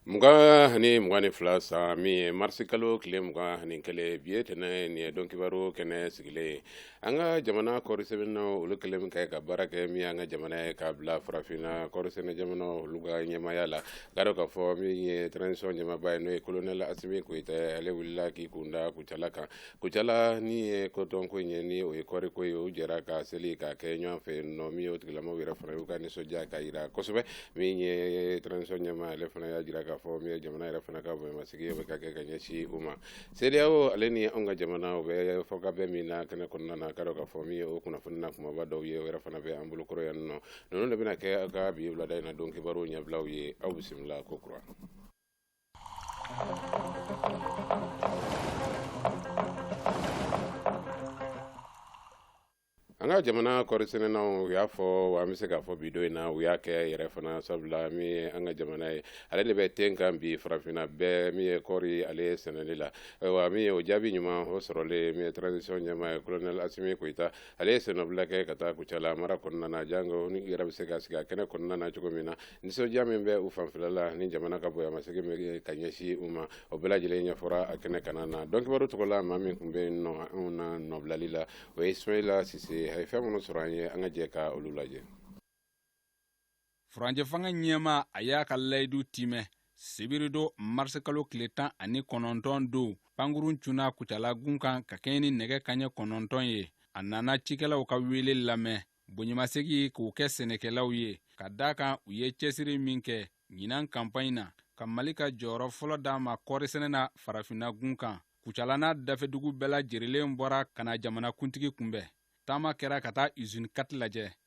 Mugan ani mugan ni fila san min ye marisi kalo tile mugan ani kelen bi ye tɛnɛn ye don kibaru kɛnɛ sigilen an ka jamana kɔɔri sɛnɛna olu kɛlen min kɛ ka baara kɛ min ye an ka jamana ye k'a bila farafinna kɔɔri sɛnɛ jamana olu ka ɲɛmaya la garo k'a fɔ min ye transition ɲɛmaaba ye n'o ye kolonɛli Asimi Koyita ale wulila k'i kunda kucala kan Kucala ni ye coton ko ye ni o ye kɔɔri ko ye u jɛra ka seli ka kɛ ɲɔgɔn fɛ nɔ min o tigilamɔgɔw yɛrɛ fana y'u ka nisɔndiya ka jira kosɛbɛ min ye transition ɲɛmaa ale fana y'a jira k'a fɔ min ye jamana yɛrɛ fana ka bonyamasegin bɛ ka kɛ ka ɲɛsin u ma seya o ale ni an ka jamana o bɛ fɔ ka bɛɛ min na kɛnɛ kɔnɔna na ka ka fɔ min ye o kunnafoni n'a kumaba dɔw ye yɛrɛ fana bɛ an bolokɔrɔ yan nɔ ninnu de bɛna kɛ aw ka bi wulada in na don kibaruw ɲɛbilaw ye aw bisimila ko kura An ka jamana kɔɔri sɛnɛnaw u y'a fɔ wa an bɛ se k'a fɔ bi don in na u y'a kɛ yɛrɛ fana sabula min ye an ka jamana ye ale de bɛ ten kan bi farafinna bɛɛ min ye kɔɔri ale sɛnɛli la awa min ye o jaabi ɲuman o sɔrɔlen min ye transition ɲɛmaa ye kolonɛli Asimi Koyita ale ye sennɔbila kɛ ka taa kucala mara kɔnɔna na jango ni yɛrɛ bɛ se ka sigi a kɛnɛ kɔnɔna na cogo min na nisɔndiya min bɛ u fanfɛla la ni jamana ka bonyamasegin bɛ ka ɲɛsin u ma o bɛɛ lajɛlen ɲɛfɔra a kɛnɛ kana na donkibaru tɔgɔ la maa min tun bɛ nɔ u na nɔbilali la o ye ismaila sise a ye fɛn minnu sɔrɔ an ye an ka jɛ ka olu lajɛ furancɛ fanga ɲɛmaa y'a ka layidu timɛ sibirido marisikalo tile tan ani kɔnɔntɔn don pankurun cunna kucalagun kan ka kɛɲɛ ni nɛgɛ kaɲɛ kɔnɔntɔn ye a nana cikɛlaw ka wele lamɛn bonyamasegi k'o kɛ sɛnɛkɛlaw ye ka da kan u ye cɛsiri min kɛ ɲinan kanpaɲi na ka mali ka jɔyɔrɔ fɔlɔ d'a ma kɔɔrisɛnɛ na farafinna gun kan kucala n'a dafɛdugu bɛɛ lajɛrilen bɔra ka na jamanakuntigi kunbɛn taama kɛra ka taa izini quatre lajɛ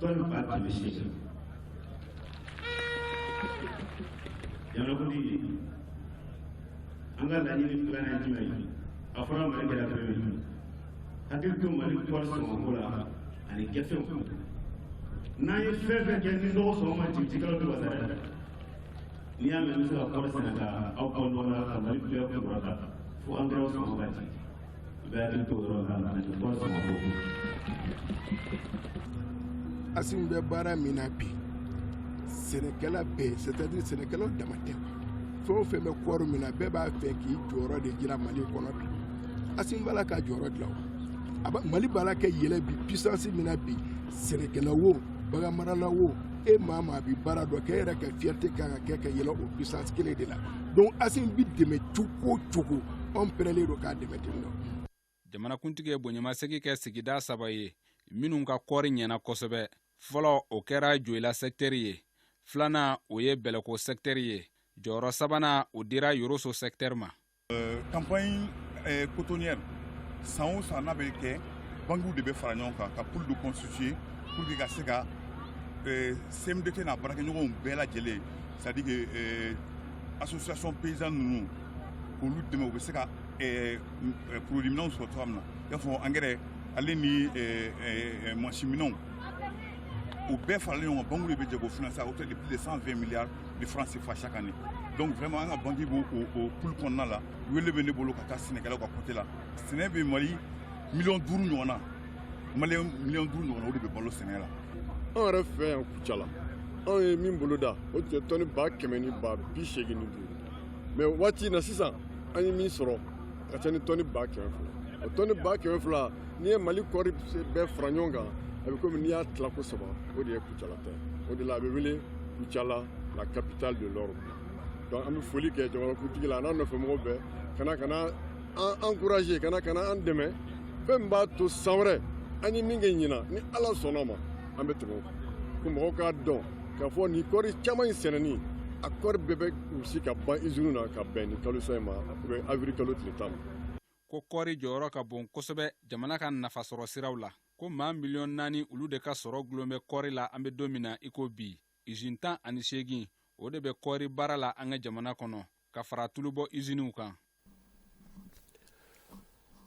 Tony Park Initiative. Jamanakuntigi. An ka laɲini filanan ye jumɛn ye? A fɔra Mali kɛra première ye. Hakili to Mali kɔɔri sɔngɔko la ani gafew. N'an ye fɛn fɛn kɛ ni nɔgɔ sɔngɔ ma jigin cikɛlaw tɛ wasa dɛ. N'i y'a mɛn an bɛ se ka kɔɔri sɛnɛ ka aw bɔ nɔgɔ la ka Mali bɛɛ kɔrɔta fo angɛrɛw sɔngɔ ka jigin. Asimi bɛ baara min na bi sɛnɛkɛla bɛɛ c'est à dire sɛnɛkɛla dama tɛ fɛn o fɛn bɛ kɔɔri min na bɛɛ b'a fɛ k'i jɔyɔrɔ de jira Mali kɔnɔ bi Asimi b'a la ka jɔyɔrɔ de la awa Mali b'a la ka yɛlɛ bi puissance min na bi sɛnɛkɛla wo bagan marala wo e maa maa bi baara dɔ k'e yɛrɛ ka fierté kan ka kɛ ka yɛlɛ o puissance kelen de la donc Asimi bɛ dɛmɛ cogo o cogo anw perelen don k'a dɛmɛ ten dɔ jamanakuntigi ye bonyamasegi kɛ sigida saba ye minnu ka kɔɔri ɲɛna kosɛbɛ fɔlɔ o kɛra joyila sɛktɛri ye filanan o ye bɛlɛko sɛktɛri ye jɔyɔrɔ sabanan o dira yoroso sɛktɛri ma campagne euh, cotonnière euh, san o san n'a bɛ kɛ bankiw de bɛ fara ɲɔgɔn kan ka pool de constituer pour que ka se ka euh, cmdt n'a baarakɛɲɔgɔnw bɛɛ lajɛlen c'est à dire que association paysanne ninnu k'olu dɛmɛ u bɛ se ka produit minɛnw sɔrɔ cogoya min na i y'a fɔ angɛrɛ ale ni mansinminɛnw u bɛɛ faralen ɲɔgɔn kan banque de bɛ jɛ k'o financer à hauteur de plus de 120 milliards de francs CFA chaque année donc vraiment an ka banque b'o pool kɔnɔna la wele bɛ ne bolo ka taa sɛnɛkɛlaw ka côté la sɛnɛ bɛ mali miliyɔn duuru ɲɔgɔn na maliyɛn miliyɔn duuru ɲɔgɔn na o de bɛ balo sɛnɛ la anw yɛrɛ fɛ yan kucala anw ye min bolo da o tun ye tɔni ba kɛmɛ ni ba bi seegin ni duuru mais waati na sisan an ye min sɔrɔ a ka ca ni tɔni ba kɛmɛ fila o tɔni ba kɛmɛ fila n'i ye mali kɔɔri bɛɛ fara ɲɔgɔn kan a bɛ komi n'i y'a tila ko saba o de ye kucala ta o de la a bɛ wele kucala la capitale de l'or donc an bɛ foli kɛ jamanakuntigi la a n'a nɔfɛmɔgɔw bɛɛ ka na ka na an encourager ka na ka na an dɛmɛ fɛn min b'a to san wɛrɛ an ye min kɛ ɲinan ni ala sɔnna ma an bɛ tɛmɛ ko mɔgɔw k'a dɔn k'a fɔ nin kɔɔri caman in sɛnɛni a kɔɔri bɛɛ bɛ gosi ka ban iziniw na ka bɛn ni kalosa in ma u bɛ awirili kalo tile tan ma ko kɔɔri jɔyɔrɔ ka bon kosɛbɛ jamana ka nafasɔrɔ siraw la ko maa miliyɔn naani olu de ka sɔrɔ dulon bɛ kɔɔri la an bɛ don min na i ko bi izini tan ani seegin o de bɛ kɔɔri baara la an ka jamana kɔnɔ ka fara tulubɔ iziniw kan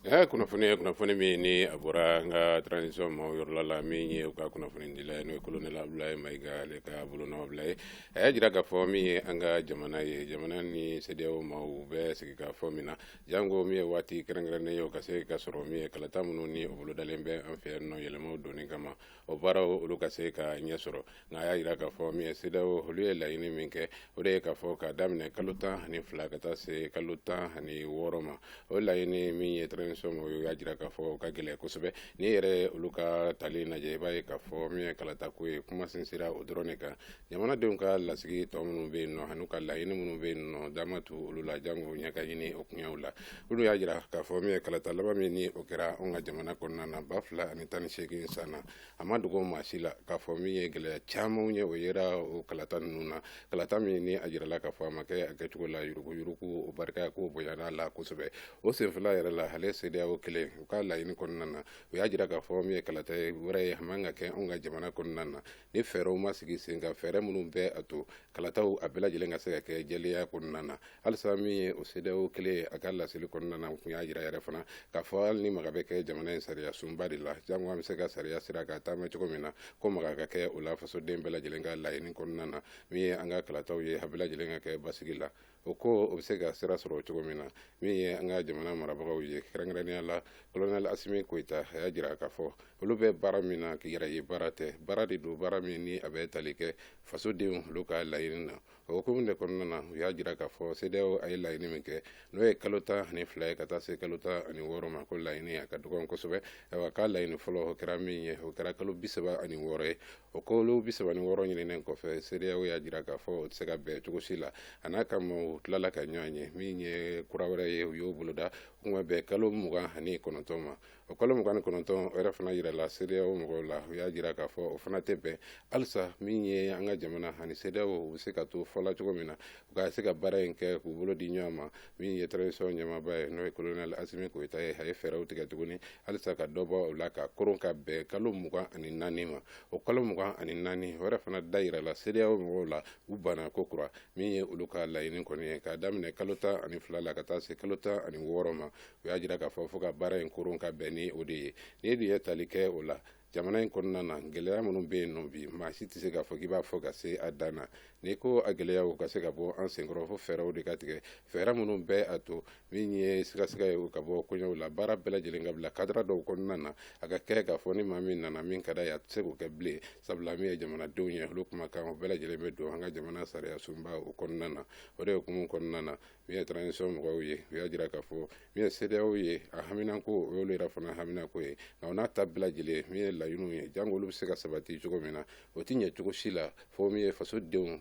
ɛ kunnafoni ye kunnafoni min ni a bɔra an ka transition maaw yɔrɔla la min ye u ka kunnafonidila ye n'o ye kolonɛli abdulayi mayiga ale ka bolonɔbila ye a y'a jira k'a fɔ min ye an ka jamana ye jamana ni CEDEAO maaw bɛ sigikafɔ min na janko min ye waati kɛrɛnkɛrɛnnen ye o ka se ka sɔrɔ min ye kalata minnu ni o bolodalen bɛ an fɛ yan nɔ yɛlɛmaw donni kama o baaraw olu ka se ka ɲɛ sɔrɔ nka a y'a jira k'a fɔ min ye CEDEAO olu ye laɲini min kɛ o de ye k'a fɔ k'a daminɛ kalo tan ani fila ka taa se kalo tan ani wɔɔrɔ ma o laɲini min ye transition maaw y'a jira k'a fɔ o ka gɛlɛn kosɛbɛ n'i yɛrɛ olu ka tali lajɛ i b'a ye k'a fɔ min ye kalatako ye kuma sinsira o dɔrɔn de kan jamanadenw ka lasigi tɔ minnu bɛ yen nɔ an'u ka laɲini minnu bɛ yen nɔ da ma tu olu la jango ɲɛ ka ɲini o koɲɛw la olu y'a jira k'a fɔ min ye kalata laban min ni o kɛra anw ka jamana kɔnɔna na ba fila ani tan ni seegin san na a ma dogo maa si la k'a fɔ min ye gɛlɛya camanw ye o yera o kalata ninnu na kalata min ni a jirala k'a fɔ a ma kɛ a kɛcogo la yuruguyurugu o barika k'o bonyana la kosɛbɛ o senfɛla yɛrɛ la ale CEDEAO kelen u ka laɲini kɔnɔna na u y'a jira k'a fɔ min ye kalata wɛrɛ ye a man ka kɛ anw ka jamana kɔnɔna na ni fɛɛrɛw ma sigi sen kan fɛɛrɛ minnu bɛ a to kalataw a bɛɛ lajɛlen ka se ka kɛ jɛlenya kɔnɔna na halisa min ye o CEDEAO kelen ye a ka laseli kɔnɔna na u tun y'a jira yɛrɛ fana k'a fɔ hali ni maga bɛ kɛ jamana in sariya sunba de la jango an bɛ se ka sariya sira ka taama cogo min na ko maga ka kɛ o la fasoden bɛɛ lajɛlen ka laɲini kɔnɔna na min ye an ka kalataw ye a bɛɛ lajɛlen ka kɛ basigi la o ko o bɛ se ka sira sɔrɔ cogo min na min ye an ka jamana marabagaw ye kɛrɛnkɛrɛnnenya la colonel Asimi Koyita a y'a jira k'a fɔ olu bɛ baara min na k'i yɛrɛ ye baara tɛ baara de don baara min ni a bɛ tali kɛ fasodenw olu ka laɲini na o hukumu de kɔnɔna na u y'a jira k'a fɔ CEDEAO a ye laɲini min kɛ n'o ye kalo tan ani fila ye ka taa se kalo tan ani wɔɔrɔ ma ko laɲini a ka dɔgɔn kosɛbɛ ayiwa k'a laɲini fɔlɔ o kɛra min ye o kɛra kalo bi saba ani wɔɔrɔ ye o kalo bi saba ni wɔɔrɔ ɲininen kɔfɛ CEDEAO y'a jira k'a fɔ o tɛ se ka bɛn cogo si la a n'a ka maaw tilala ka ɲɔgɔn ye min ye kura wɛrɛ ye u y'o boloda u ma bɛn kalo mugan ani kɔnɔntɔn ma o kalo mugan ni kɔnɔntɔn yɛrɛ fana yirala CEDEAO mɔgɔw la u y'a jira k'a fɔ o fana tɛ bɛn halisa min ye an ka jamana ani CEDEAO u bɛ se ka to fɔla cogo min na u ka se ka baara in kɛ k'u bolo di ɲɔgɔn ma min ye transition ɲɛmaaba ye n'o ye colonel Asimi Koyita ye a ye fɛɛrɛw tigɛ tuguni halisa ka dɔ bɔ o la ka koron ka bɛn kalo mugan ani naani ma o kalo mugan ani naani o yɛrɛ fana dayirala CEDEAO mɔgɔw la u banna kokura min ye olu ka laɲini kɔni ye k'a daminɛ kalo tan ani fila la ka taa se kalo tan ani wɔɔrɔ ma u y'a jira k'a fɔ fo ka baara in koron ka bɛn ni o de ye n'i dun ye tali kɛ o la jamana in kɔnɔna na gɛlɛya minnu bɛ yen nɔ bi maa si tɛ se k'a fɔ k'i b'a fɔ ka se a dan na n'i ko a gɛlɛyaw ka se ka bɔ an senkɔrɔ fo fɛɛrɛw de ka tigɛ fɛɛrɛ minnu bɛ a to min ye sigasiga ye ka bɔ koɲɛw la baara bɛɛ lajɛlen ka bila cadre dɔw kɔnɔna na a ka kɛ k'a fɔ ni maa min nana min ka d'a ye a tɛ se k'o kɛ bilen sabula min ye jamanadenw ye olu kumakan o bɛɛ lajɛlen bɛ don an ka jamana sariya sunba o kɔnɔna na o de hukumu kɔnɔna na min ye transition mɔgɔw ye u y'a jira k'a fɔ min ye CEDEAO ye a haminanko o y'olu yɛrɛ fana haminanko ye nka o n'a ta bɛɛ lajɛlen min ye laɲiniw ye jango olu bɛ se ka sabati cogo min na o tɛ ɲɛ cogo si la fo min ye fasodenw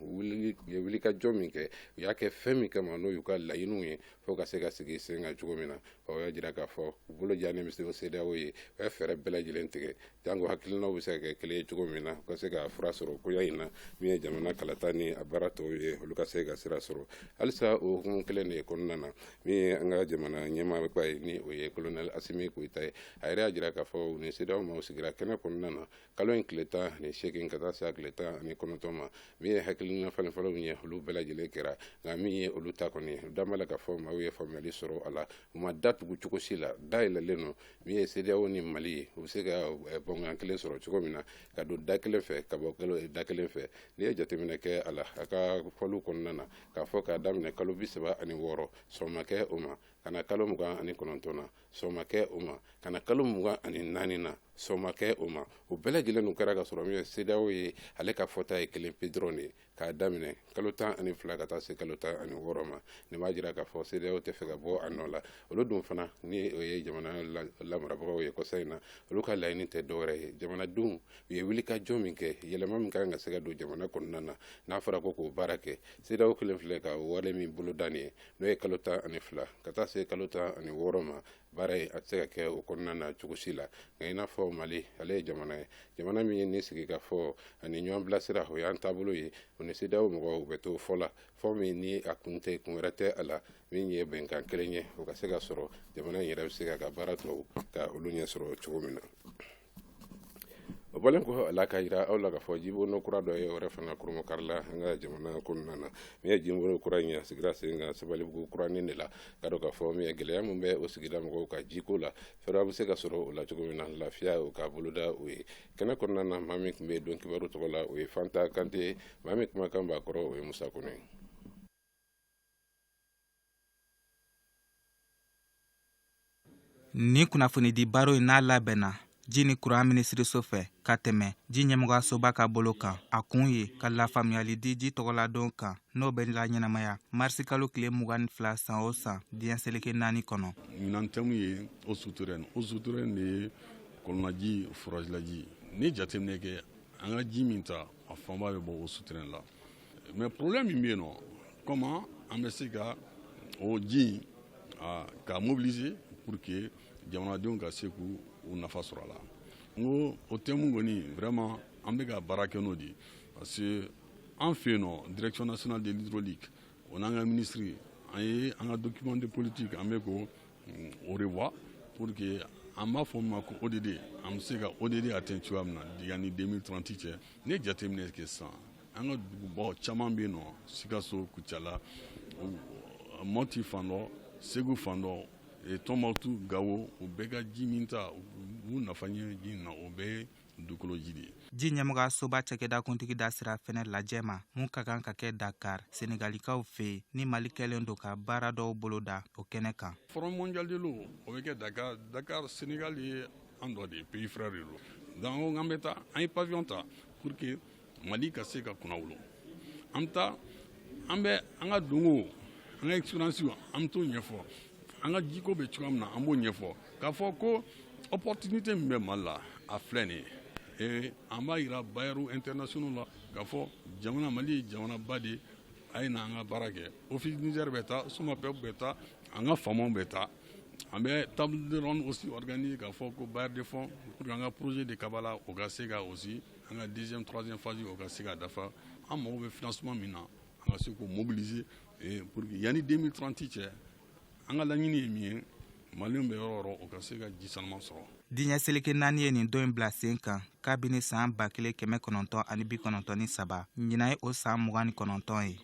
ye wulikajɔ min kɛ u y'a kɛ fɛn min kama n'o y'u ka laɲiniw ye fo ka se ka sigi sen kan cogo min na o y'a jira k'a fɔ u bolo jannen bɛ se o CEDEAO ye u ye fɛɛrɛ bɛɛ lajɛlen tigɛ jango hakilinaw bɛ se ka kɛ kelen ye cogo min na u ka se ka fura sɔrɔ koya in na min ye jamana kalata ni a baara tɔw ye olu ka se ka sira sɔrɔ halisa o hukumu kelen de kɔnɔna na min ye an ka jamana ɲɛmaaba ye ni o ye colonel Asimi Koyita ye a yɛrɛ y'a jira k'a fɔ u ni CEDEAO maaw sigira kɛnɛ kɔnɔna na kalo in tile tan ni seegin ka taa se a tile tan ani kɔnɔntɔn ma min ye hakilina falenfalenw ye olu bɛɛ lajɛlen kɛra nka min ye olu ta kɔni u da b'a la k'a fɔ maaw ye faamuyali sɔrɔ a la u ma da tugu cogo si la dayɛlɛlen don min ye CEDEAO ni Mali ye u bɛ se ka eh, bɛnkan kelen sɔrɔ cogo min na ka don da kelen fɛ ka bɔ eh, da kelen fɛ n'i ye jateminɛ kɛ a la a ka fɔliw kɔnɔna na k'a fɔ k'a daminɛ kalo bi saba ani wɔɔrɔ sɔn ma kɛ o ma ka na kalo mugan ani kɔnɔntɔn na sɔn ma kɛ o ma ka na kalo mugan ani naani na sɔn ma kɛ o ma o bɛɛ lajɛlen n'u kɛra ka sɔrɔ min ye CEDEAO ye ale ka fɔta ye kelen pe dɔrɔn de ye k'a daminɛ kalo tan ani fila ka taa se kalo tan ani wɔɔrɔ ma nin b'a jira k'a fɔ CEDEAO tɛ fɛ ka bɔ a nɔ la olu dun fana ni o ye jamana lamarabagaw ye kɔsa in na olu ka laɲini tɛ dɔwɛrɛ ye jamanadenw u ye wulikajɔ min kɛ yɛlɛma min ka kan ka se ka don jamana kɔnɔna na n'a fɔra ko k'o baara kɛ CEDEAO kɛlen filɛ ka wale min boloda nin ye n'o ye kalo tan ani fila ka taa se kalo tan ani wɔɔrɔ ma baara ye a tɛ se ka kɛ o kɔnɔna na cogo si la nka i n'a fɔ mali ale ye jamana ye jamana min ye ni sigikafɔ ani ɲɔgɔn bilasira o y'an taabolo ye o ni CEDEAO mɔgɔw u bɛ to fɔ la fɔ min ni a kun tɛ kun wɛrɛ tɛ a la min ye bɛnkan kelen ye o ka se ka sɔrɔ jamana in yɛrɛ bɛ se ka ka baara tɔw ka olu ɲɛ sɔrɔ cogo min na o bɔlen kɔ a la k'a yira aw la k'a fɔ jibono kura dɔ yɛrɛ fana kurunbonkarila an ka jamana kɔnɔna na min ye jibono kura in a sigira sen kan sabalibugu kuranin de la k'a dɔn k'a fɔ min ye gɛlɛya min bɛ o sigida mɔgɔw ka jiko la fɛɛrɛ bɛ se ka sɔrɔ o la cogo min na lafiya o ka boloda o ye kɛnɛ kɔnɔna na maa min tun bɛ don kibaru tɔgɔ la o ye fanta kante maa min kumakan b'a kɔrɔ o ye musa kɔnɛ ye nin kunnafonidi baro in n'a labɛnna ji ni kuran minisiriso fɛ ka tɛmɛ ji ɲɛmɔgɔyasoba ka bolo kan a kun ye ka lafaamuyali di ji tɔgɔladon kan n'o bɛ laɲɛnamaya marisikalo tile mugan ni fila san o san diɲɛ seleke naani kɔnɔ ɲinan thème ye eaux souterraines eaux souterraines de ye kɔlɔnlaji forazilaji n'i ye jateminɛ kɛ an ka ji minta a fanba bɛ bɔ eaux souterraines la mais problème min bɛ yen nɔ comment an bɛ se ka o ji k'a mobiliser pour que jamanadenw ka se k'u nafa sɔrɔ a la n ko o thème kɔni vraiment an bɛ ka baara kɛ n'o de ye parce que an fɛ yen nɔ direction nationale de l'hydraulique o n'an ka minisiri an ye an ka document de politique an bɛ k'o revoir pour que an b'a fɔ min ma ko ODD an bɛ se ka ODD atteint cogoya min na yanni 2030 cɛ n'i ye jateminɛ kɛ sisan an ka dugubaw caman bɛ yen nɔ sikaso kucala mɔti fan dɔ segu fan dɔ e, tɔnbukutu gawo o bɛɛ ka ji minta u nafa ɲɛ ji na o bɛɛ dugukolo ji de ye ji ɲɛmɔgɔyasoba cakɛda kuntigi da sera fɛnɛ lajɛ ma min ka kan ka kɛ dakar senegalikaw fɛ ni mali kɛlen don ka baara dɔw boloda o kɛnɛ kan forum mondial de l'eau o bɛ kɛ dakar dakar senegal ye an dɔ de ye pays frère de lo donc an bɛ taa an ye pavillon ta pour que Mali ka se ka kunnawolo an bɛ taa an bɛ an ka dɔnko an ka expérience an bɛ t'o ɲɛfɔ an ka jiko bɛ cogoya min na an b'o ɲɛfɔ k'a fɔ ko opportunité min bɛ mali la a filɛ nin ye an b'a jira bailleurs internationaux la k'a fɔ jamana mali ye jamanaba de ye a ye na an ka baara kɛ Office Niger bɛ taa SOMAPEP bɛ taa an ka faamaw bɛ taa an bɛ table de ronde aussi organiser k'a fɔ ko bailleurs de fonds pour que an ka projet de Kabala o ka se ka aussi An ka deuxième troisième phase o ka se ka dafa an mago bɛ financement min na an ka se k'o mobiliser pour que yanni deux mille trente cɛ an ka laɲini ye min ye maliens bɛ yɔrɔ o yɔrɔ o ka se ka ji sanuman sɔrɔ diɲɛ seleke naani ye nin don in bila sen kan kabini san ba kelen kɛmɛ kɔnɔntɔn ani bi kɔnɔntɔn ni saba ɲinan ye o san mugan ni kɔnɔntɔn ye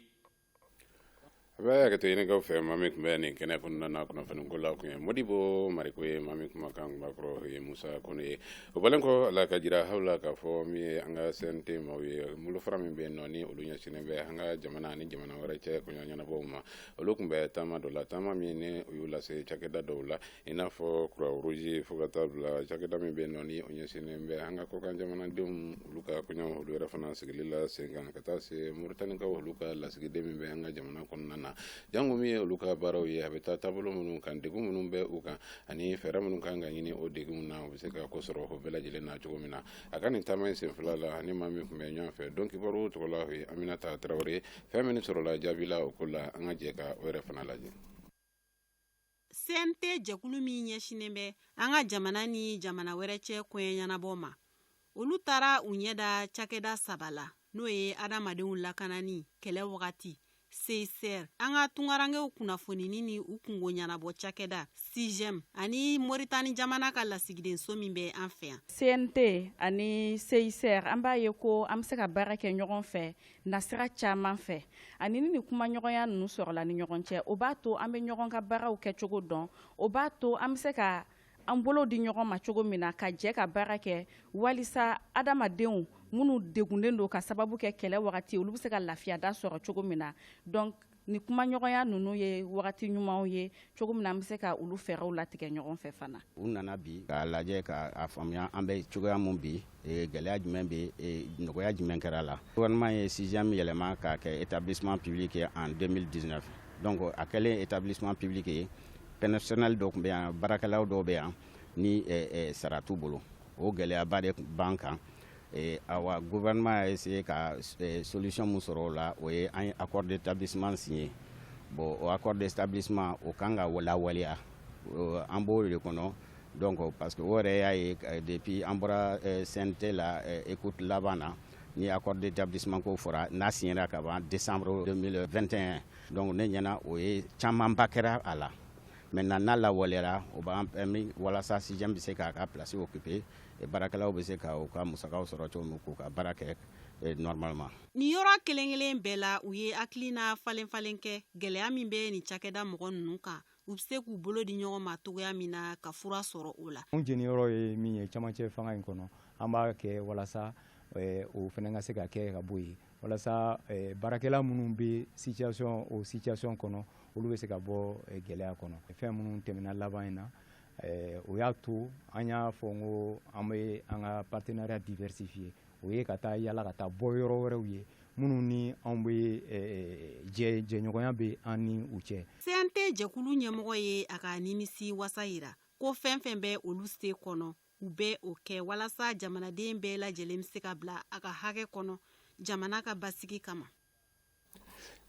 A bɛ hakɛto ɲini aw fɛ maa min tun bɛ nin kɛnɛ kɔnɔna na kunnafoni ko la tun ye Modibo Mariko ye maa min kumakan tun b'a kɔrɔ ye Musa Kone ye o bɔlen kɔ la ka jira aw la k'a fɔ min ye an ka CNT maaw ye bolofara min bɛ nɔ ni olu ɲɛsinnen bɛ an ka jamana ni jamana wɛrɛ cɛ koɲɛ ɲɛnabɔ ma olu tun bɛ taama dɔ la taama min u y'u lase cakɛda dɔw la i n'a fɔ Croix-Rouge fo ka taa bila cakɛda min bɛ nɔ ni o ɲɛsinnen bɛ an ka kɔkan jamanadenw olu ka koɲɛ olu yɛrɛ fana sigili la sen kan ka taa se Moritanikaw olu ka lasigiden min bɛ an ka jamana kɔnɔna na jango min ye olu ka baaraw ye a bɛ taa taabolo minnu kan degun minnu bɛ u kan ani fɛɛrɛ minnu kan ka ɲini o degun na u bɛ se ka ko sɔrɔ o bɛɛ lajɛlen na cogo min na a ka nin taama in sen fila la ani maa min tun bɛ ɲɔgɔn fɛ don kibaru tɔgɔ la o ye Aminata Tarawele fɛn min sɔrɔla jaabi la o ko la an ka jɛ ka o yɛrɛ fana lajɛ CNT jɛkulu min ɲɛsinnen bɛ an ka jamana ni jamana wɛrɛ cɛ koɲɛ ɲɛnabɔ ma olu taara u ɲɛ da cakɛda saba la n'o ye adamadenw lakanani kɛlɛ wagati CICR an ka tunkarankɛw kunnafonini ni u kunko ɲɛnabɔ cakɛda CIGEM ani Moritani jamana ka lasigidenso min bɛ an fɛ yan CNT ani CICR an b'a ye ko an bɛ se ka baara kɛ ɲɔgɔn fɛ nasira caman fɛ ani ni nin kumaɲɔgɔnya ninnu sɔrɔla ni ɲɔgɔn cɛ o b'a to an bɛ ɲɔgɔn ka baaraw kɛcogo dɔn o b'a to an bɛ se ka an bolo di ɲɔgɔn ma cogo min na ka jɛ ka baara kɛ walisa adamadenw minnu degunnen don ka sababu kɛ kɛlɛ wagati olu bɛ se ka lafiyada sɔrɔ cogo min na donc Ni kumaɲɔgɔnya ninnu ye wagati ɲumanw ye cogo min na an bɛ se ka olu fɛɛrɛw latigɛ ɲɔgɔn fɛ fana. U nana bi k'a lajɛ k'a faamuya an bɛ cogoya min bi e, gɛlɛya jumɛn bɛ e, nɔgɔya jumɛn kɛra a la. Gouvernement ye CIGEM yɛlɛma k'a kɛ établissement public ye en 2019 donc a kɛlen établissement public ye personnel dɔ tun bɛ yan baarakɛlaw dɔw bɛ yan ni e, sara t'u bolo o gɛlɛyaba de b'an kan Ee awa gouvernement a essaye ka solution min sɔrɔ o la, o ye an ye accord d'établissement signer bon o accord d'établissement o kan ka lawaleya an b'o de kɔnɔ donc parce que o yɛrɛ y'a ye depuis an bɔra CNT la écoute laban na ni accord d'établissement ko fɔra n'a signera ka ban décembre 2021 donc ne ɲɛna o ye camanba kɛra a la maintenant n'a lawaleyara o b'an permis walasa CIGEM bɛ se k'a ka place occuper baarakɛlaw bɛ se ka u ka musakaw sɔrɔ cogo min k'u ka baara kɛ eh, normalement. Nin yɔrɔ kelen-kelen bɛɛ la, u ye hakilina falen-falen kɛ gɛlɛya min bɛ nin cakɛda mɔgɔ ninnu kan, u bɛ se k'u bolo di ɲɔgɔn ma cogoya min na ka fura sɔrɔ o la. Anw jeniyɔrɔ ye min ye camancɛ fanga in kɔnɔ, an b'a kɛ walasa eh, o fana ka se ka kɛ ka bɔ yen walasa eh, baarakɛla minnu bɛ situation o situation kɔnɔ olu bɛ se ka bɔ gɛlɛya kɔnɔ fɛn minnu tɛmɛna laban in na Ɛɛ o y'a to an y'a fɔ n ko an bɛ an ka partenariat diversifier o ye ka taa yala ka taa bɔ yɔrɔ wɛrɛw ye minnu ni anw bɛ jɛ jɛɲɔgɔnya bɛ an ni u cɛ. CNT jɛkulu ɲɛmɔgɔ ye a ka nimisiwasa yira ko fɛn fɛn bɛ olu se kɔnɔ u bɛ o kɛ walasa jamanaden bɛɛ lajɛlen bɛ se ka bila a ka hakɛ kɔnɔ jamana ka basigi kama.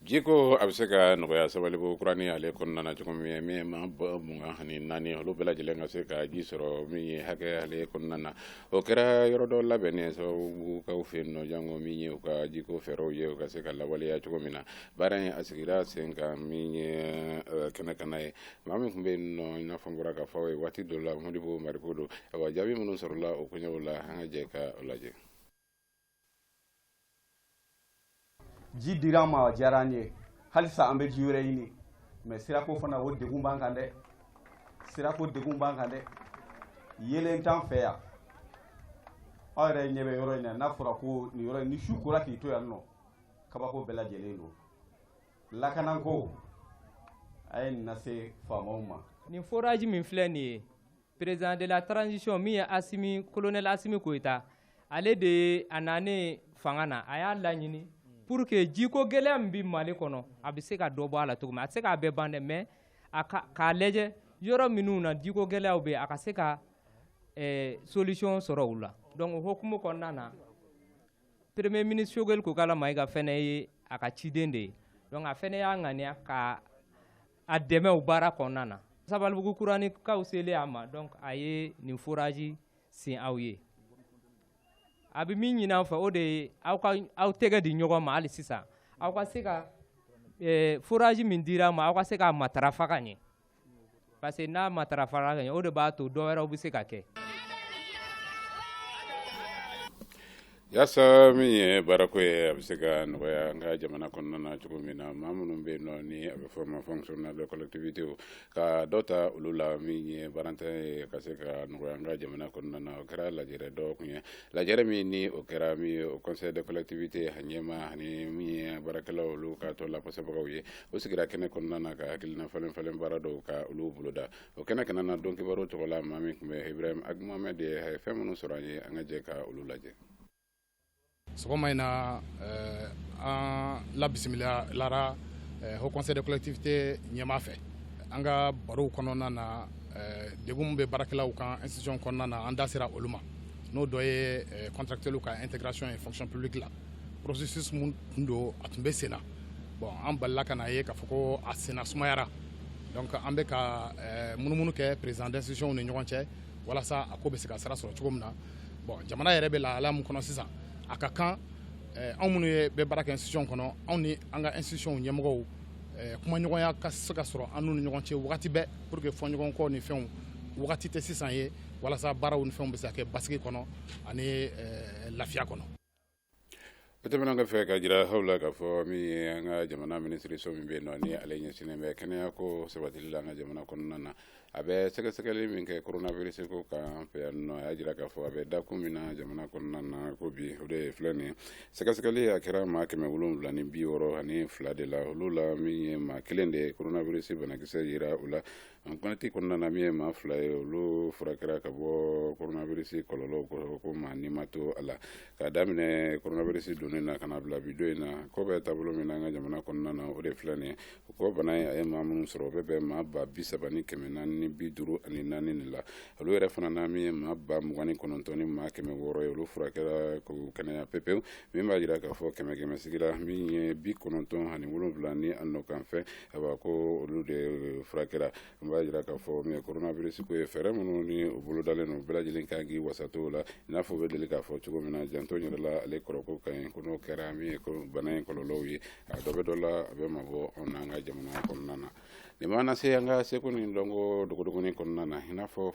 jiko a bɛ se ka nɔgɔya sabalibugu kuranin ale kɔnɔna na cogo min ye min ma bɔ mugan ani naani olu bɛɛ lajɛlen ka se ka ji sɔrɔ min ye hakɛ ale kɔnɔna na o kɛra yɔrɔ dɔ labɛnnen sabalibugukaw fɛ yen nɔ janko min ye u ka jiko fɛɛrɛw ye u ka se ka lawaleya cogo min na baara in a sigira sen kan min ye eh, kɛnɛ kana ye maa min tun bɛ yen nɔ i n'a fɔ n bɔra k'a fɔ ye waati dɔ la modibo mariko don awa jaabi minnu sɔrɔla o koɲɛw la an ka jɛ k'a lajɛ ji dira an ma a diyara an ye halisa an bɛ ji wɛrɛ ɲini mais sirako fana o degun b'an kan dɛ sirako degun b'an kan dɛ yeelen t'an fɛ yan aw yɛrɛ ɲɛ bɛ yɔrɔ in na n'a fɔra ko nin yɔrɔ in ni su kora k'i to yan nɔ kabako bɛɛ lajɛlen don lakanako a ye nin lase faamaw ma nin forage min filɛ nin ye président de la transition min ye asimi kolonɛli asimi koyita ale de ye a nanen fanga na a y'a laɲini pour que jiko gɛlɛya min bɛ mali kɔnɔ a bɛ se ka dɔ bɔ a la cogo min a tɛ se k'a bɛɛ ban dɛ mais a ka k'a lajɛ yɔrɔ minnu na jiko gɛlɛyaw bɛ yen a ka se ka eh, solution sɔrɔ u la donc o hukumu kɔnɔna na premier ministre sogɛli kokala mayiga fɛnɛ ye a ka ciden de ye donc a fɛnɛ y'a ŋaniya ka a dɛmɛ o baara kɔnɔna na sabalibugu kuranikaw selen a ma donc a ye nin foraji sen aw ye a bɛ min ɲini an fɛ o de ye aw ka aw tɛgɛ di ɲɔgɔn ma hali sisan aw ka se ka eh, foraji min dira ma aw ka se k'a matarafa ka ɲɛ parce que n'a matarafara ka ɲɛ o de b'a to dɔ wɛrɛw bɛ se ka kɛ Yasa min ye baarako ye a bɛ se ka nɔgɔya an ka jamana kɔnɔna na cogo min na maa minnu bɛ yen nɔ ni a bɛ fɔ ma fonctionnaire de collectivité ka dɔ ta olu la min ye baarantan ye ka se ka nɔgɔya an ka jamana kɔnɔna na o kɛra lajɛrɛ dɔ kun ye lajɛrɛ min ni o kɛra min ye haut conseil de collectivité a ɲɛmaa ani min ye baarakɛlaw olu ka tɔn lapasabagaw ye o sigira kɛnɛ kɔnɔna na ka hakilina falen falen baara dɔw ka olu boloda o kɛnɛ kanna na dɔn kibaru tɔgɔ la maa min tun bɛ ibrahim ag mohamed ye a ye fɛn minnu sɔrɔ an ye an ka jɛ ka olu lajɛ sɔgɔma in na eh, an labisimilara eh, haut conseil de collectivité ɲɛmaa fɛ an ka barow kɔnɔna na eh, degun min bɛ baarakɛlaw kan institution kɔnɔna na an da sera olu ma n'o dɔ ye eh, contractuels ka intégration ye fonction publique la processus min tun don a tun bɛ senna bon an balila ka n'a ye k'a fɔ ko a senna sumayara donc an bɛ ka eh, munumunu kɛ président d'institution ni ɲɔgɔn cɛ walasa a ko bɛ se ka sira sɔrɔ cogo min na bon jamana yɛrɛ bɛ lahala min kɔnɔ sisan a ka kan eh, anw minnu ye bɛ baara kɛ institution kɔnɔ anw ni an ka institution ɲɛmɔgɔw eh, kumaɲɔgɔnya ka se ka sɔrɔ an n'u ni ɲɔgɔn cɛ wagati bɛɛ pour que fɔɲɔgɔnkɔ ni fɛnw wagati tɛ sisan ye walasa baaraw ni fɛnw bɛ se ka kɛ basigi kɔnɔ ani lafiya kɔnɔ O tɛmɛnen kɔfɛ k'a jira aw la k'a fɔ min ye an ka jamana minisiriso min bɛ yen nɔ ni ale ɲɛsinnen bɛ kɛnɛya ko sabatili la an ka jamana kɔnɔna na a bɛ sɛgɛsɛgɛli min kɛ coronavirus ko kan an fɛ yan nɔ a y'a jira k'a fɔ a bɛ dakun min na jamana kɔnɔna na ko bi o de filɛ nin ye sɛgɛsɛgɛli a kɛra maa kɛmɛ wolonwula ni bi wɔɔrɔ ani fila de la olu la min ye maa kelen de ye coronavirus banakisɛ yera u la an kɔnɔti kɔnɔna na min ye maa fila ye olu furakɛra ka bɔ coronavirus kɔlɔlɔ kɔrɔ ko maa ni ma to a la k'a daminɛ coronavirus donnen na ka na bila bi don in na ko bɛ taabolo min na an ka jamana kɔnɔna na o de filɛ nin ye o ko bana ye a ye maa minnu sɔrɔ o bɛ bɛn maa ba bi saba ni kɛmɛ naani ni bi duuru ani naani de la olu yɛrɛ fana na min ye maa ba mugan ni kɔnɔntɔn ni maa kɛmɛ wɔɔrɔ ye olu furakɛra k'u kɛnɛya pepewu min b'a jira k'a fɔ kɛmɛ kɛmɛ sigira min ye bi kɔnɔntɔn ani wolonwula ni a nɔ kan fɛ a b'a ko olu de eh, furakɛra min b'a jira k'a fɔ min ye coronavirus ko ye fɛɛrɛ minnu ni u bolodalen don bɛɛ lajɛlen kan k'i wasa don o la i n'a fɔ u bɛ deli k'a fɔ cogo min na janto yɛrɛ la ale kɔrɔko ka ɲi ko n'o kɛra min ye bana in kɔlɔlɔw ye a dɔ bɛ dɔ la a bɛ mabɔ anw n'an ka jamana kɔnɔna na nin b'an lase an ka seko ni dɔnko dogodogoni kɔnɔna na i n'a fɔ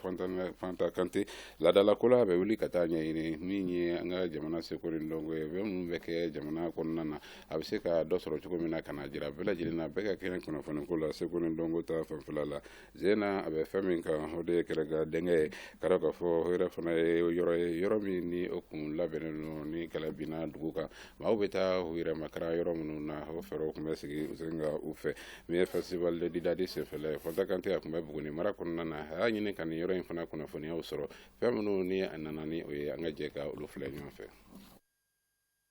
fanta kante laadalako la a bɛ wuli ka taa ɲɛɲini min ye an ka jamana seko ni dɔnko ye fɛn minnu bɛ kɛ jamana kɔnɔna na a bɛ se ka dɔ sɔrɔ cogo min na ka na jira bɛɛ lajɛlen na bɛɛ ka kɛnɛ kunnafoni ko la seko ni dɔnko ta fanfɛla la zena a bɛ fɛn min kan o de ye gɛrɛngɛdingɛ ye k'a dɔn k'a fɔ o yɛrɛ fana ye yɔrɔ ye yɔrɔ min ni o kun labɛnnen don ni kɛlɛ binna dugu kan maaw bɛ taa u yɛrɛ makara yɔrɔ minnu na o fɛɛrɛw tun bɛ sigi u sen kan u fɛ min ye festival de didadi senfɛla ye fanta kante a tun bɛ buguni mara kɔnɔna na a y'a ɲini ka nin yɔrɔ in fana kunnafoniyaw sɔrɔ fɛn minnu ni a nana ni o ye an ka jɛ ka olu filɛ ɲɔgɔn fɛ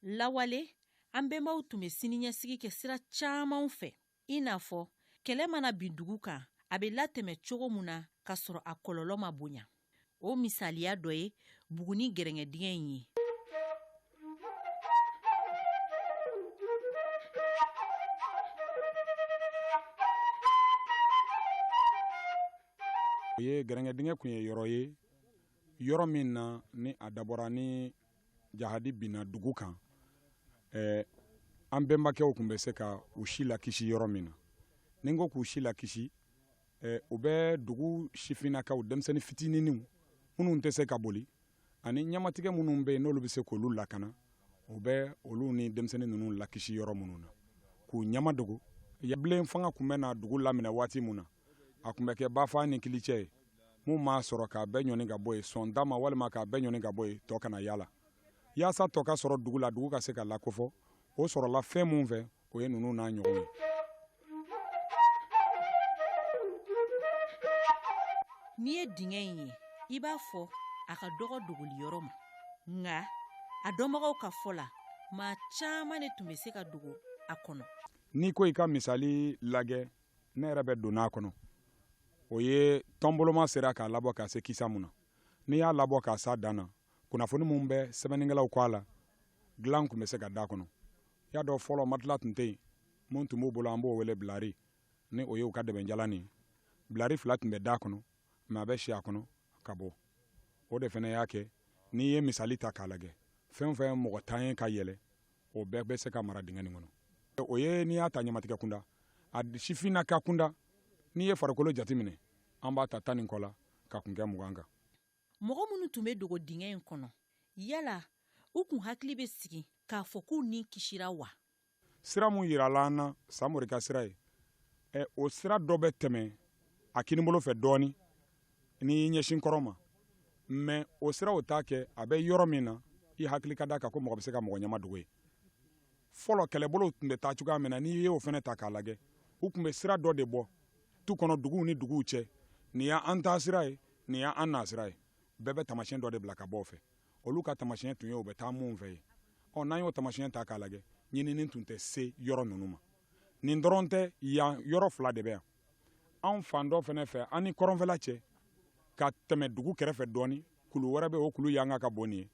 lawale an bɛnbaw tun bɛ siniɲɛsigi kɛ sira camanw fɛ i n'a fɔ kɛlɛ mana bin dugu kan a bɛ latɛmɛ cogo min na ka sɔrɔ a kɔlɔlɔ ma bonya o misaliya dɔ ye buguni gɛrɛngɛdingɛ in ye o ye gɛrɛngɛdingɛ tun ye yɔrɔ ye yɔrɔ min na ni a dabɔra ni jahadi binna dugu kan eh, an bɛnbakɛw kun bɛ se ka u si lakisi yɔrɔ min na ni n ko k'u si lakisi eh, u bɛ dugu sifinnakaw denmisɛnnin fitininw minnu tɛ se ka boli ani ɲɛmatigɛ minnu bɛ yen n'olu bɛ se k'olu lakana u bɛ olu ni denmisɛnnin ninnu lakisi yɔrɔ minnu na k'u ɲɛmadogo yabilen fanga kun bɛ na dugu laminɛ waati min na a kun bɛ kɛ bafaa ni kilicɛ ye mun m'a sɔrɔ k'a bɛɛ ɲɔni ka bɔ yen sɔn da ma walima k'a bɛɛ ɲɔni ka bɔ yen tɔ kana y'a la yaasa tɔ ka sɔrɔ dugu la dugu ka se ka lakofɔ o sɔrɔla fɛn mun fɛ o ye ninnu n'a ɲɔgɔn ye n'i ye dingɛ in ye i b'a fɔ a ka dɔgɔ dogoli yɔrɔ ma nka a dɔnbagaw ka fɔ la maa caman de tun bɛ se ka dogo a kɔnɔ n'i ko i ka misali lagɛ ne yɛrɛ bɛ donna a kɔnɔ o ye tɔnboloma sera k'a labɔ ka se kisa mun na n'i y'a labɔ ka s'a dan na kunnafoni minnu bɛ sɛbɛnnikɛlaw kɔ a la dilan tun bɛ se ka d'a kɔnɔ y'a dɔn fɔlɔ matila tun tɛ yen minnu tun b'u bolo an b'o wele bilari ni o ye u ka dɛbɛnjalan ye bilari fila tun bɛ d'a kɔnɔ maa bɛ si a kɔnɔ ka bɔ o de fana y'a kɛ n'i ye misali ta k'a lajɛ fɛn o fɛn mɔgɔ tan ye ka yɛlɛ o bɛɛ bɛ se ka mara dingɛ nin kɔnɔ o ye n'i y'a ta ɲamatigɛ kunda a sifinnaka kunda n'i ye farikolo jateminɛ an b'a ta tan ni kɔ la k'a kuncɛ mugan kan mɔgɔ minnu tun bɛ dogo dingɛ in kɔnɔ yala u kun hakili bɛ sigi k'a fɔ k'u ni kisira wa sira mun yirala an na samori ka sira ye ɛ o sira dɔ bɛ tɛmɛ a kinibolo fɛ dɔɔnin n'i ɲɛsin kɔrɔ ma mɛ o sira o t'a kɛ a bɛ yɔrɔ min na i hakili ka d'a kan ko mɔgɔ bɛ se ka mɔgɔ ɲama dogo yen fɔlɔ kɛlɛbolow tun bɛ taa cogoya min na n'i y'o fana ta k'a lajɛ u tun bɛ sira dɔ de bɔ tu kɔnɔ duguw ni duguw cɛ nin y' an taa sira ye nin y' an na sira ye bɛɛ bɛ tamasiyɛn dɔ de bila ka bɔ o fɛ olu ka tamasiyɛn tun ye u bɛ taa minnu fɛ ye ɔ n'an y'o tamasiyɛn ta k'a lajɛ ɲinini tun tɛ se yɔrɔ ninnu ma nin dɔrɔn tɛ yan yɔrɔ fila de bɛ yan anw fan dɔ fana fɛ an ni kɔrɔnfɛla cɛ ka tɛmɛ dugu kɛrɛfɛ dɔɔni kulu wɛrɛ bɛ o kulu yanga ka bon nin ye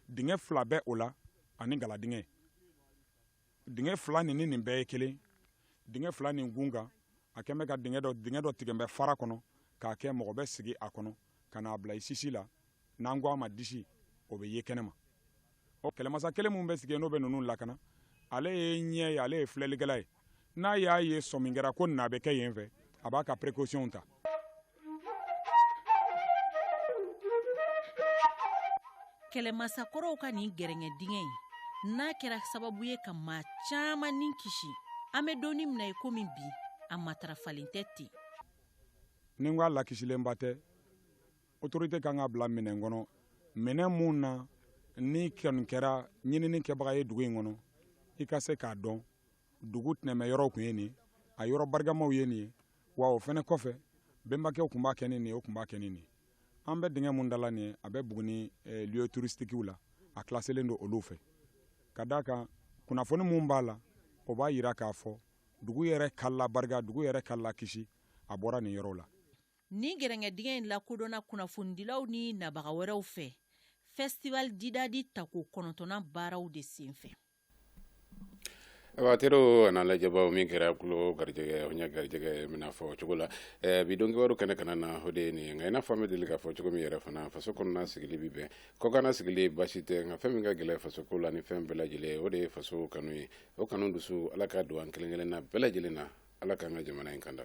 dingɛ fila bɛ o la ani galadingɛ dingɛ fila nin ni nin bɛɛ ye kelen dingɛ fila nin kun kan a kɛn bɛ ka dingɛ dɔ dingɛ dɔ tigɛn bɛ fara kɔnɔ k'a kɛ mɔgɔ bɛ sigi a kɔnɔ ka n'a bila i sisi la n'an ko a ma disi o bɛ ye kɛnɛma ɔ kɛlɛmasa kelen min bɛ sigi n'o bɛ ninnu lakana ale ye ɲɛ ye ale ye filɛlikɛla ye n'a y'a ye sɔmin kɛra ko n'a bɛ kɛ yen fɛ a b'a ka précaution ta kɛlɛmasa kɔrɔw ka nin gɛrɛngɛdingɛ in n'a kɛra sababu ye ka maa caman ni kisi an bɛ don min na i komi bi a matarafalen tɛ ten ni n ko a lakisilenba tɛ autorité kan k'a bila minɛn kɔnɔ minɛn mun na n'i kɔni kɛra ɲinini kɛbaga ye dugu in kɔnɔ i ka se k'a dɔn dugu tɛnɛmɛ yɔrɔw tun ye nin a yɔrɔ barikamaw ye nin ye wa o fana kɔfɛ bɛnbakɛw tun b'a kɛ ni nin o tun b'a kɛ ni nin an bɛ dingɛ mun da la nin ye a bɛ Buguni eh, lieu touristiques la a classélen don olu fɛ ka d'a kan kunnafoni mun b'a la o b'a yira k'a fɔ dugu yɛrɛ ka labarika dugu yɛrɛ ka lakisi a bɔra nin yɔrɔ la Nin gɛrɛngɛdingɛ in lakodɔnna kunnafonidilaw ni nabaga wɛrɛw fɛ festival Didadi tako kɔnɔntɔnnan baaraw de senfɛ. Awa teriw an'a lajɛbaaw min kɛra tulo garijɛgɛ o ɲɛ garijɛgɛ mina fɔ cogo la ɛɛ bi don kibaru kɛnɛ kana na o de ye nin ye nka i n'a fɔ an bɛ deli k'a fɔ cogo min yɛrɛ fana faso kɔnɔna sigili bi bɛn kɔkanna sigili baasi tɛ nka fɛn min ka gɛlɛn faso ko la ni fɛn bɛɛ lajɛlen ye o de ye faso kanu ye o kanu dusu ala k'a don an kelen-kelenna bɛɛ lajɛlen na ala k'an ka jamana in kanda